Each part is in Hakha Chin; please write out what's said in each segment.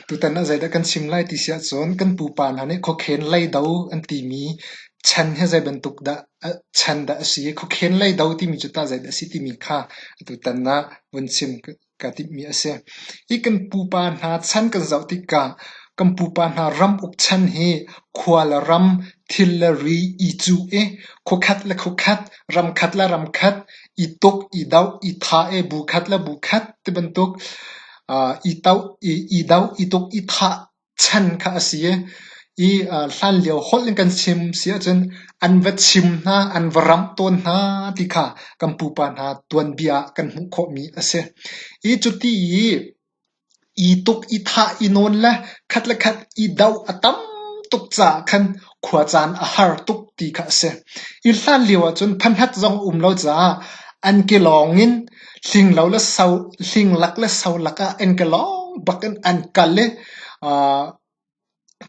Tutan ah zeidah kan chim lai ti si ahcun kan pupa hna nih khuakhen leido an timi chan hi zeibantuk dah chan dah a si i khuakhen leido timi cu tah zeidah a si timi kha tutan ah vun chim ka timhmi a si. Hi kan pupa hna chan kan zoh tikah kan pupa hna ram uk chan hi khua le ram, thil le ri i cuh i khuakhat le khuakhat, ram khat le ram khat i tuk, i doh, i thah i bu khat le bu khat tibantuk aa i doh, i i doh, i tuk, i thah chan kha a si i i aa hlanlio holh in kan chim si ahcun an va chim hna, an va ramh tawn hna ti kha kan pupa hna tuanbia ah kan hmuh khawhmi a si. I cuti i I tuk i thah i nawn le khat le khat i doh a tam tuk caah khan khua caan a har tuk ti kha a si. I hlan lio ahcun phanhat zong a um lo caah an ke lawng in hlinglak le so lak ah an ke lawng bak in an kal i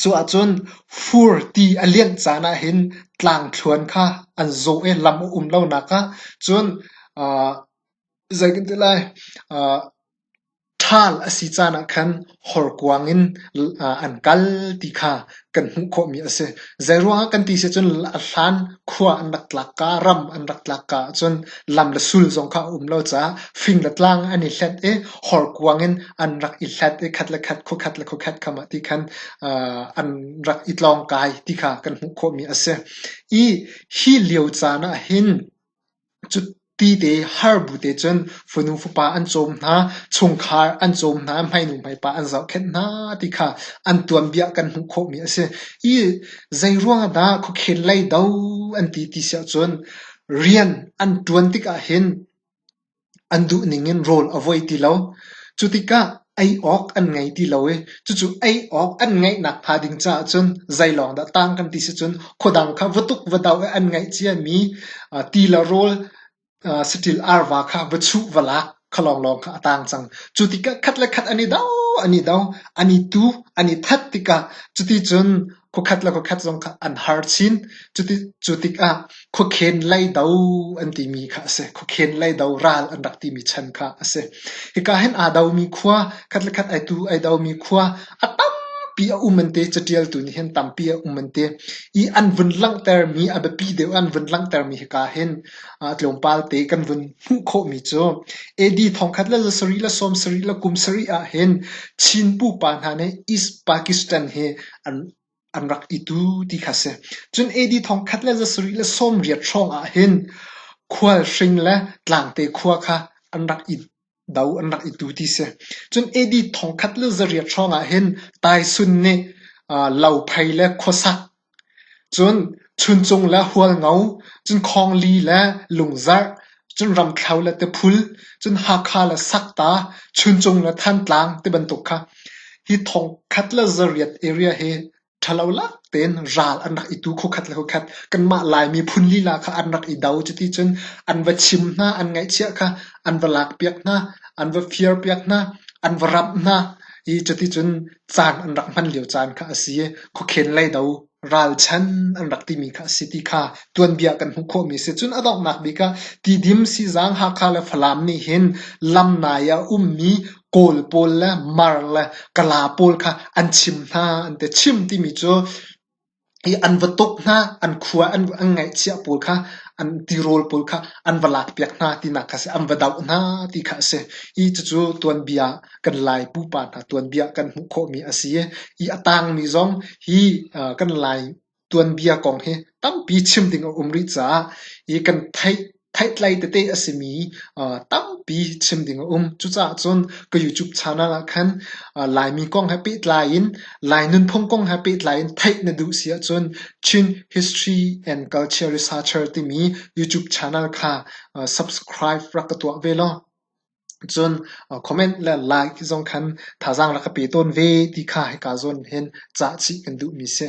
cuahcun fur ti a lianh caan ahhin tlangthluan kha an zaw i lam a um lonak ah cun Zei kan ti lai? Ṭhal a si caan ah khan horkuang in an kal ti kha kan hmuh khawhmi a si. Zeiruangah kan ti si ahcun a hlan khua an rak tlak ka, ram an rak tlak ka ahcun lam le sul zong kha a um lo caah fing le tlang an i hlet i horkuang in an rak i hlat i khat le khat, khuakhat le khuakhat kam ah ti khan an rak i tlawngkai ti kha kan hmuh khawhmi a si. Hi lio caan ah hin Cutite har bu te cun fanu fapa an cawm hna, chungkhar an cawm hna, hmainu hmaipa an zohkhenh hna ti kha an tuanbia kan hmuh khawhmi a si. I zeiruangah dah khuakhen lei do an ti ti siahcun rian an ṭuan tik ahhin an duhning in rawl a vuai ti lo. Cu tikah ei awk an ngei ti lo i cucu ei awk an ngeihnak hnga ding caah cun zeilawng dah tang kan ti si cun khuadang kha va tuk va doh i an ngeih ciami aa ti le rawl aa saṭil arva kha va chuh va lak kha lawnglawng kha a tang cang. Cu tikah khat le khat an i do, an i do, an i tu, an i that tikah cuti cun Khuakhat le khuakhat zong kha an har chin. Cu tikah khuakhen leido an timi kha a si. Khuakhen leido ral an rak timi chan kha a si. Hika hin aa domi khua, khat le khat ai domi khua, a tampi a um an ti. Catialtu nih hin tampi a um an ti. I an vun langhtermi, a biapi deuh an vun langhtermi hika hin tlawmpal te kan vun hmuh khawhmi cu AD thongkhat le la sarih le sawm sarih le kum sarih ah hin Chin pupa hna nih East Pakistan hi an rak i tu ti kha a si. Cun AD thong khat le zasarih le sawmriat hrawng ah hin khualhring le tlangte khua kha an rak i do, an rak i tu ti si. Cun AD thong khat le zariat hrawng ah hin taisun nih uh, lophei le khuasak, cun chuncung le hualngo, cun khawngli le lungzarh, Cun ramthlo le tiphul, cun Hakha le Sakta, Chuncung le Thantlang tibantuk kha hi thongkhat le zariat area hi ṭhalo lak tein ral an rak i tu khukhat le khukhat. Kanmah Laimi phun lila kha an rak i do. Cuti cun an va chim hna, an ngaihchiah kha, an va lakpiak hna, an va firpiak hna, an va ramh hna i cuti cun caan an rak hman lio caan kha a si i khukhen lei do. ralchan an rak timi kha a si ti kha tuanbia kan hmuh khawhmi a si. Cun a donghnak bik ah Tidim, Sizang, Hakha le Falam nih hin lam nai ah ummi Kawl pawl le Mar le Kala pawl kha an chim hna an ti. Chim timi cu hi an va tuk hna, an khua an, an ngaihchiah pawl kha an tirawl pawl kha an va lakpiak hna tinak kha a si. An va doh hna ti kha a si. Hi cucu tuanbia kan Lai pupa hna tuanbia kan hmuh khawhmi a si i a tangmi zong hi kan Lai tuanbia kong hi tampi chim ding a um rih caah i kan theih theihtlai tete a simi tampi chim ding a um. Cucaah cun ka YouTube channel ah khan Laimi kong he pehtlai in Lai nunphung kong he pehtlai in theih na duh si ahcun Chin History and Culture Researcher timi YouTube channel kha subscribe rak ka tuah ve law Cun comment le like zong khan thazaang rak ka pe tawn ve ti kha hika zawn hin cah chih kan duhmi si.